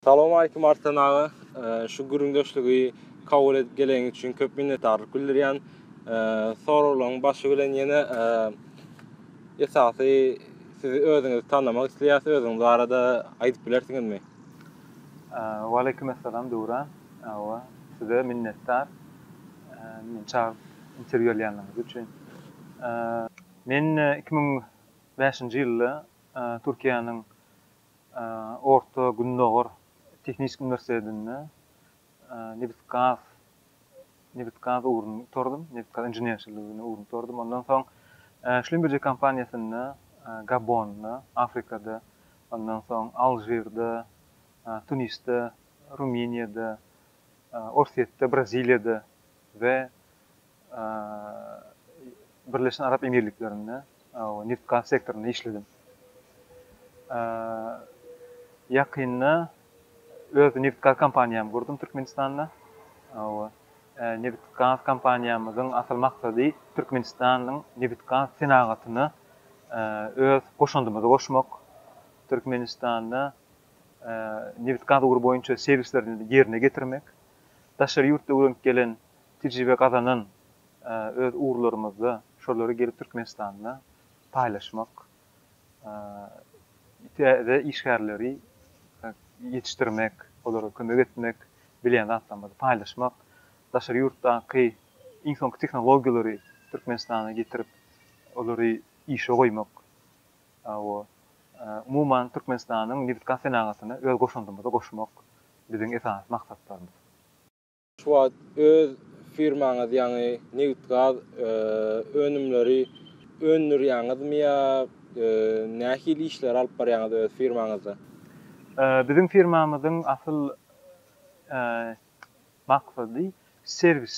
Salowmalikim Arslan aga, şu gürrüňdeşligi kabul edip geleniň üçin köp minnetdarlyk bildirýän. Soraglaryň başy bilen ýene esasy sizi özüňizi tanamak isleýäs, özüňiz barada aýdyp bilersiňizmi? Waleýkim essalam Döwran aga, size minnetdar meni çagyryp interwýu alýanyňyz üçin. Men iki müň bäşinji ýylda Türkiýäniň Orta Gündogar tehniki uniwersitetinde nebit-gaz nebit-gaz ugruny gutardym, nebit-gaz inženerçiligini ugruny gutardym. Ondan soň Schlumberger kompaniýasynda Gabonda, Afrikada, ondan soň Alžirde, Tunisde, Rumyniýada, Orsýetde, Braziliýada we Birleşen Arap Emirliklerinde nebit-gaz sektorynda işledim. Ýakynda öz nebit-gaz kompaniýamy gurdum Türkmenistanda. Nebit-gaz kompaniýamyzyň asyl maksady Türkmenistanyň nebit-gaz senagatyna öz goşandymyzy goşmak, Türkmenistanda nebit-gaz ugry boýunça serwisleri ýerine ýetirmek, daşary ýurtda öwrenip gelen tejribe gazanan öz ugurlarymyzda şolary gelip Türkmenistanda paýlaşmak, täze işgärleri ýetişdirmek, olara kömek etmek, bilýän zatlarymyzy paýlaşmak, daşary ýurtdaky iň soňky tehnologiýalary Türkmenistana getirip, olary işe goýmak, umuman Türkmenistanyň nebit-gaz senagatyna öz goşandymyzy goşmak biziň esasy maksatlarymyz. Şu wagt öz firmaňyz ýaňy nebit-gaz önümleri öndürýäňizmi ýa nähili işleri alyp barýaňyz öz firmaňyzda? Biziň firmamyzyň asyl maksady serwis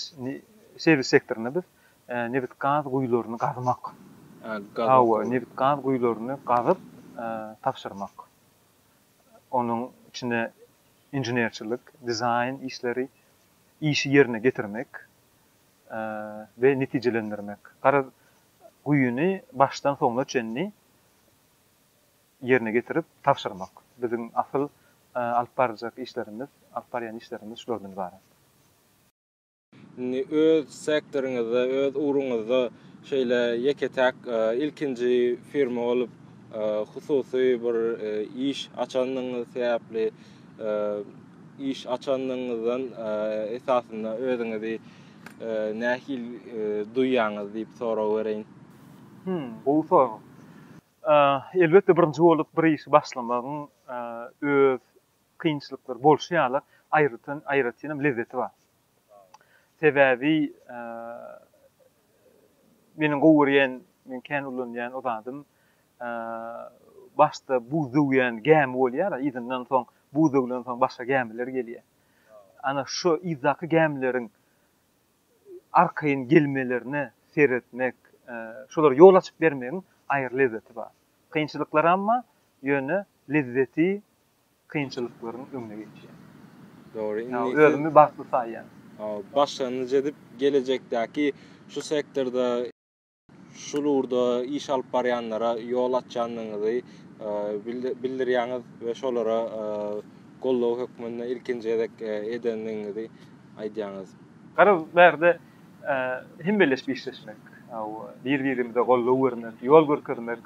serwis sektorynda biz nebit-gaz guýularyny gazmak. Hawa, nebit-gaz guýularyny gazyp tabşyrmak. Onuň içine. inženerçilik, dizaýn işleri, işi ýerine getirmek we netijelendirmek, garaz, guýyny başdan-soňuna çenli ýerine getirip tabşyrmak. Biziň asyl alyp barjak işlerimiz, alyp barýan işlerimiz şulardan ybarat. Indi öz sektoryňyzda, öz ugruňyzda şeýle ýeke-täk ilkinji firma bolup, hususy bir iş açandygyňyz sebäpli, iş açandygyňyzdan esasynda özüňizi nähil duýýaňyz diýip sorag bereýin? Hümm, gowy sorag. Elbetde, birinji bolup bir işi başlamagyň öz kynçylyklar bolşy ýaly aýratyn aýratynam lezzeti bar. Sebäbi meniň gowy görýän, men kän ulanýan o zadym başda buz döwýän gämi bolýar-a, yzyndan soň buz döwlen soň başga gämiler gelýär. Ana şu yzdaky gämileriň arkaýyn gelmelerine seretmek, şolara ýol açyp bermegiň aýry lezzeti bar. Kynçylyklaramma, ýöne lezzeti kynçylyklaryň öňüne geçýär. Dogry, indi siz. Özümi bagtly saýýan. Başlangyç edip, gelejekdäki şu sektorda. şul ugurda iş alyp barýanlara ýol açýandygyňyzy bildirýäňiz we şolara goldaw hökmünde ilkinji gezek edendigiňizi aýdýaňyz. Garaz, bärde hemeleşip işleşmek, bir-birimize goldaw bermek, ýol görkezmek,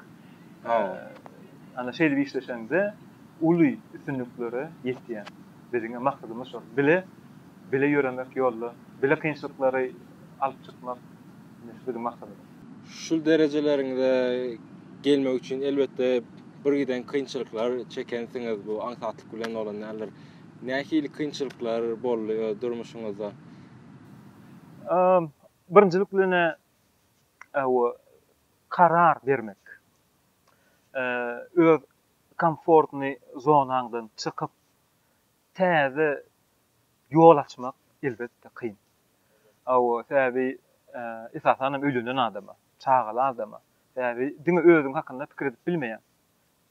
ana, şeýdip işleşeňde uly üstünliklere ýetýäň. Biziň-ä maksadymyz şol. Bile, bile ýöremek ýolda, bile kynçylyklary alyp çykmak, Biziň maksadymyz. Şu derejeleriňize gelmek üçin elbetde birgiden kynçylyklar çekensiňiz bu aňsatlyk bilen bolan däldir. Nähili kynçylyklar boldy öz durmuşyňyzda? Birinjilik bilen karar bermek. Öz komfortny zonaňdan çykyp Täze ýol açmak elbetde kyn. Hawa, sebäbi esasan hem öýlenen adama, çagaly adama, sebäbi diňe özüň hakynda pikir edip bilmeýäň.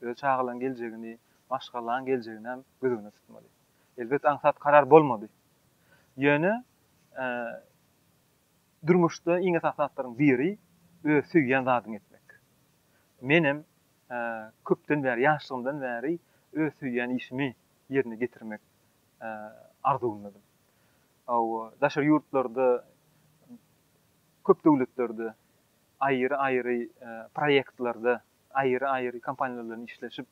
Öz çagalaň geljegini, maşgalaň geljegini hem göz öňünde tutmaly. Elbet aňsat karar bolmaly. Ýöne durmuşda iň esasy zatlaryň biri öz söýýän zadyňy etmek. Menem köpden bäri, ýaşlygymdan bäri öz söýýän işimi ýerine getirmek arzuwyndadym. Hawa, daşary ýurtlarda köp döwletlerde aýry-aýry proýektlerde, aýry-aýry kompaniýalar bilen işleşip,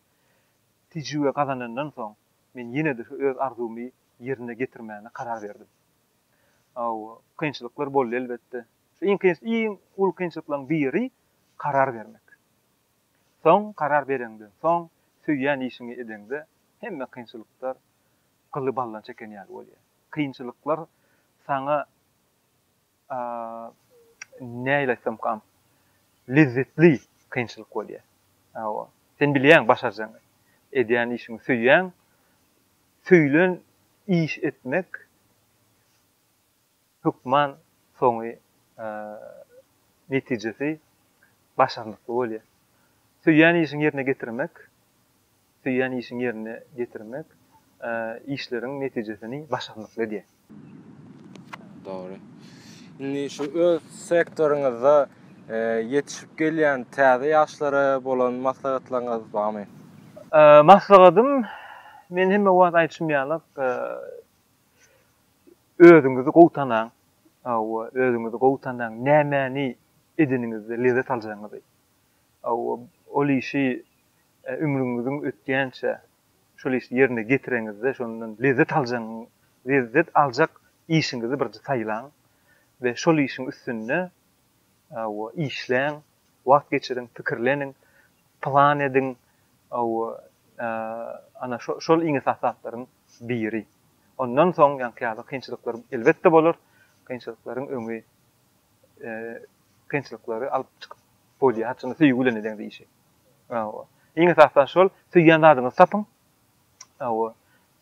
tejribe gazanandan soň, men ýene-de şu öz arzuwymy ýerine getirmäne karar berdim. Hawa, kynçylyklar boldy elbetde. Şu iň kyn, iň uly kynçylyklaryň biri karar bermek. Soň karar bereňden soň söýýän işiňi edeňde hemme kynçylyklar gyly baldan çeken ýaly bolýar. Kynçylyklar saňa nähili aýtsamkam lezzetli kynçylyk bolýar. Hawa. Sen bilýäň başarjagyňy. Edýän işiňi söýýäň. Söýlen iş etmek hökman soňy netijesi başarnykly bolýar. Söýýän işiň ýerine getirmek, söýýän işiň ýerine getirmek işleriň netijesini başarnykly edýär. Dogry. Indi şu öz sektoryňyzda ýetişip gelýän täze ýaşlara bolan maslahatlaryňyz barmy? Maslahatym, men hemme wagt aýdyşym ýaly, Özüňizi gowy tanaň, hawa, özüňizi gowy tanaň, nämäni edeniňizde lezzet aljagyňyzy, hawa, ol işi ömrüňiziň ötýänçä şol işi ýerine ýetireňizde şondan lezzet aljagyňyzy, lezzet aljak işiňizi birinji saýlaň we şol işiň üstünde, hawa, işläň. Wagt geçiriň, pikirleniň, plan ediň, ana, şol iň esasy zatlaryň biri. Ondan soň ýaňky ýaly kynçylyklar elbetde bolar, kynçylyklaryň öňi, kynçylyklary alyp çykyp bolýar, haçan da söýgi bilen ediň işi. Iň esasy şol, söýýän zadyňyzy tapyň,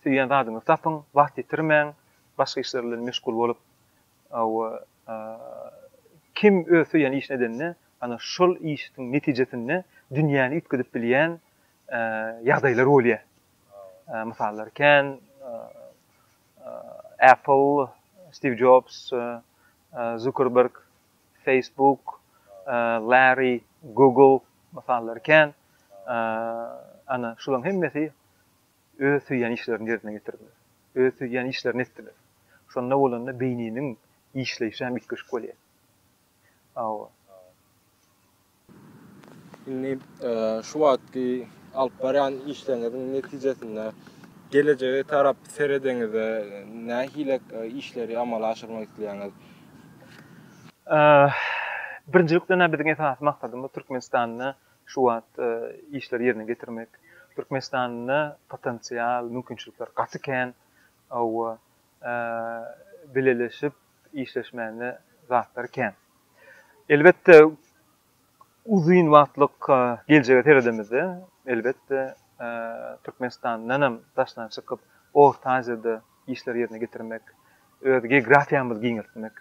söýýän zadyňyzy tapyň, wagt ýitirmäň, başga işler bilen meşgul bolup, Kim öz söýýän işini edende, ana, şol işiň netijesinde dünýäni üýtgedip bilýän ýagdaýlar bolýar. Mysallar kän. Apple, Stiv Jobs, Zuckerberg, Facebook, Larry, Google, mysallar kän. Ana, şularyň hemmesi Öz söýýän işlerini ýerine ýetirdiler. Öz söýýän işlerini etdiler. Şonda bolanda beýniniň işleýşi hem üýtgeşik bolýar. Hawa. Indi şu wagtky alyp barýan işleriňiziň netijesinde gelejege tarap seredeňizde nähili işleri amala aşyrmak isleýäňiz? Birinjilikden-ä biziň esasy maksadymyz Türkmenistanda Şu wagt işleri ýerine getirmek Türkmenistanda potensial mümkinçilikler gaty kän, hawa bileleşip işleşmäne zatlar kän. Elbetde uzyn wagtlyk geljege seredemizde elbetde Türkmenistandanam daşdan çykyp Orta Aziýada işleri ýerine getirmek, öz geografiýamyzy giňeltmek,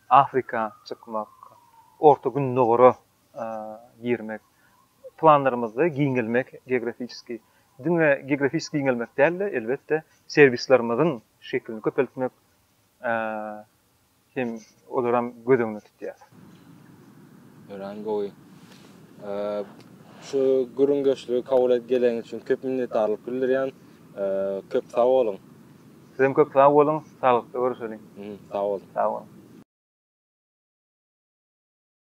Afrika çykmak, Orta Gündogara girmek, planlarymyzda giňelmek geografisiki, diňe geografisiki giňelmek däl-de, elbetde, serwislerimiziň şekilini köpeltmek hem olaram göz öňünde tutýar. Örän gowy. Şu gürrüňdeşligi kabul edip geleniň üçin köp minnetdarlyk bildirýän. Köp sag boluň. Sizem köp sag boluň. Saglykda görüşeliň. Sag boluň. Sag boluň.